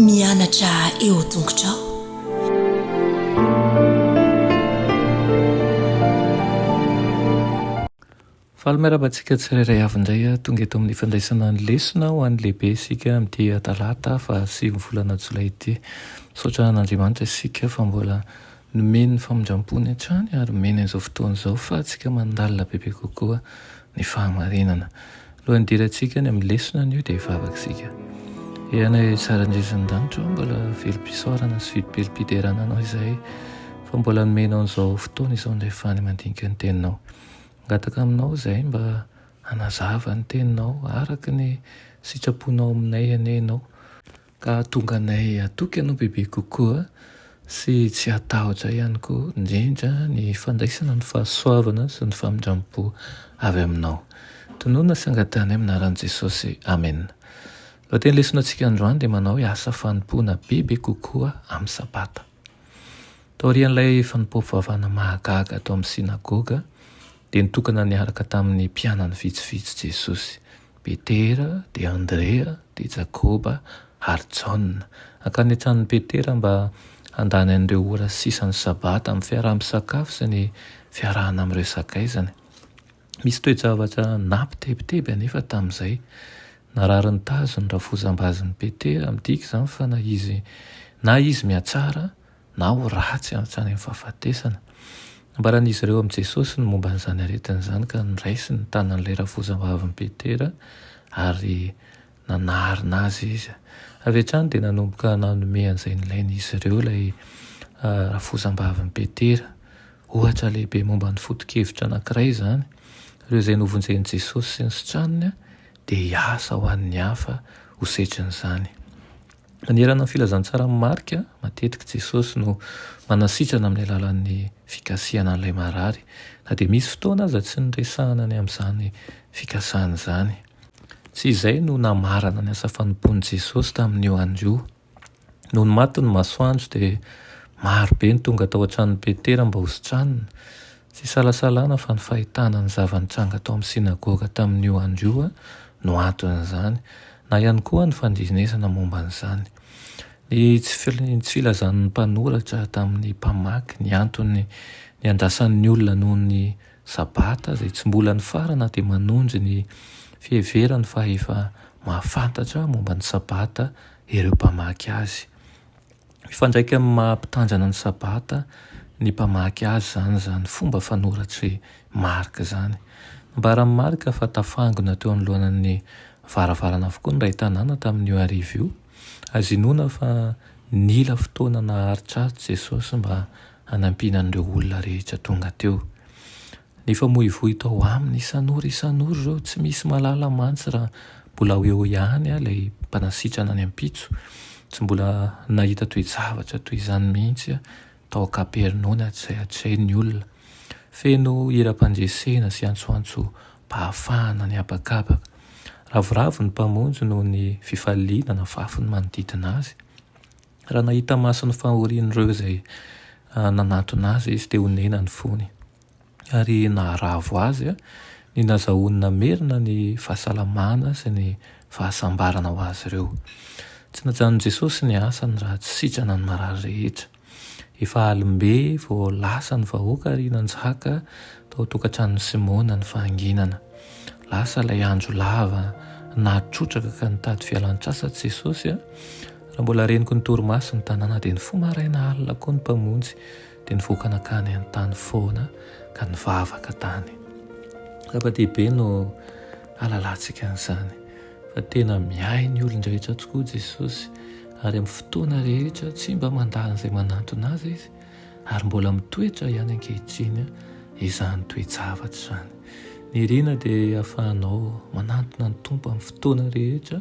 Mianatra eo an-tongotrao. Faly miarahaba antsika tsirairay avy indray ah, tonga eto amin'ny fandraisana ny lesona ho an'ny lehibe isika amin'ity talata faha sivy volana jolay ity. Misaotra an'Andriamanitra isika fa mbola Nomen'ny famindram-pony hatrany ary omeny an'izao fotoana izao fahatsika mandalina bebe kokoa ny fahamarinana. Alohan'ny hidirantsika any amin'ny lesona anio dia hivavaka isika. Ee Anay tsara indrindra any an-danitra ô, mbola velom-pisaorana sy vidim-pelom-piderana Anao izahay fa mbola nomenao an'izao fotoana izao indray fahany mandinika ny Teninao. Mangataka Aminao izahay mba hanazava ny Teninao araka ny sitraponao aminay anie Ianao. Ka hahatonga anay hatoky Anao bebe kokoa sy tsy hatahotra ihany koa, indrindra ny fandraisana ny fahasoavana sy ny famindrampo avy Aminao. Tononina sy angatahinay amin'ny anaran'i Jesosy. Amena. Ny lohateny lesonantsika androany dia manao hoe Asa fanompoana bebe kokoa amin'ny Sabata. Taorian'ilay fanompoam-pivavahana mahagaga tao amin'ny sinagoga, dia nitokana niaraka tamin'ny mpianany vitsivitsy Jesosy. Petera, dia Andrea, dia Jakoba, ary Jaona. Hankany an-tranon'i Petera mba handany an'ireo ora sisan'ny Sabata amin'ny fiaraha-misakafo sy ny fiarahana amin'ireo sakaizany. Misy toe-javatra nampitebiteby anefa tamin'izay. Narary ny tazo ny rafozam-bazin'i Petera, midika izany fa na izy na izy mihatsara na ho ratsy any amin'ny fahafatesana. Nambaran'izy ireo amin'i Jesosy ny momba an'izany aretina izany ka noraisiny ny tanan'ilay rafozambavin'i Petera ary nanarina azy izy. Avy hatrany dia nanomboka nanome an'izay nilainy izy ireo ilay rafozambavin'i Petera. Ohatra lehibe momba ny foto-kevitra anankiray izany. Ireo izay novonjen'i Jesosy sy ny sitraniny dia hiasa ho an'ny hafa ho setrin'izany. Manerana ny filazantsaran'i Marka, matetika Jesosy no manasitrana amin'ny alalan'ny fikasihana an'ilay marary, na dia misy fotoana aza tsy niresahana ny amin'izany fikasana izany. Tsy izay no namarana ny asa fanompoan'i Jesosy tamin'io andro io. Nony maty ny masoandro, dia maro be ny tonga tao an-tranon'i Petera mba hositranina. Tsy isalasalana fa ny fahitana ny zava-nitranga tao amin'ny synagoga tamin'io andro io no anton'izany, na ihany koa ny fandrenesana momba an'izany. Ny tsy filazan'ny mpanoratra tamin'ny mpamaky ny antony niandrasan'ny olona noho ny Sabata izay tsy mbola nifarana dia manonjy ny fiheverany fa efa mahafantatra momba ny Sabata ireo mpamaky azy. Mifandraika amin'ny maha mpitanjana ny Sabata ny mpamaky azy izany izany fomba fanoratr'i Marka izany. Nambaran'i Marka fa tafangona teo anoloanan'ny varavarana avokoa ny iray tanàna tamin'io hariva io. Azo inoana fa nila fotoana naharitraritra i Jesosy mba hanampiana an'ireo olona rehetra tonga teo. Nifamoivoy tao aminy isan'ora isan'ora ireo tsy misy mahalala mantsy raha mbola ho eo ihany ilay mpanasitrana any ampitso. Tsy mbola nahita toe-javatra toy izany mihitsy aho tao an-kapernaomy hatrizay hatrizay ny olona. Feno hiram-pandresena sy antsoantsom-pahafahana ny habakabaka. Ravoravo ny Mpamonjy noho ny fifaliana nafafy ny manodidina Azy. Raha nahita maso ny fahorian'ireo izay nanatona azy izy, dia honena ny fony. Ary naharavo azy ny nazahoany namerina ny fahasalamana sy ny fahasambarana ho azy ireo. Tsy najanon'i Jesosy ny asany raha tsy sitrana ny marary rehetra. Efa alim-be vao lasa ny vahoaka ary nanjaka tao an-tokantranon'i Simona ny fahanginana. Lasa ilay andro lava nahatrotraka ka nitady fialan-tsasatra Jesosy. Raha mbola reniko ny torimaso ny tanàna dia nifoha maraina alina koa ny Mpamonjy dia nivoaka nakany an-tany foana ka nivavaka tany. Zava-dehibe no halalantsika an'izany fa tena miahy ny olon-drehetra tokoa Jesosy ary amin'ny fotoana rehetra tsy mba mandany izay manantona Azy Izy ary mbola mitoetra ihany ankehitriny izany toe-javatra izany. Ny iriana dia ahafahanao manantona ny Tompo amin'ny fotoana rehetra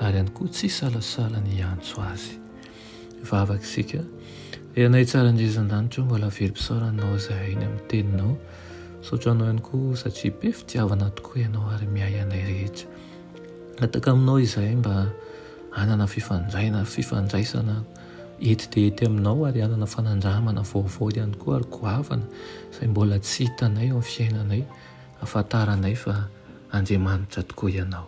ary ihany koa tsy hisalasala ny hiantso Azy. Hivavaka isika, Ry Anay tsara indrindra any an-danitra ô, mba lavirim-pisaorana Anao izahay eny amin'ny Teninao. Misaotra Anao ihany koa satria be fitiavana tokoa Ianao ary miahy anay rehetra. Mihataka Aminao izahay mba hanana fifandraina, fifandraisana ety dia ety Aminao ary hanana fanandramana vaovao ihany koa ary goavana izay mbola tsy hitanay eo amin'ny fiainanay, hahafantaranay fa Andriamanitra tokoa Ianao.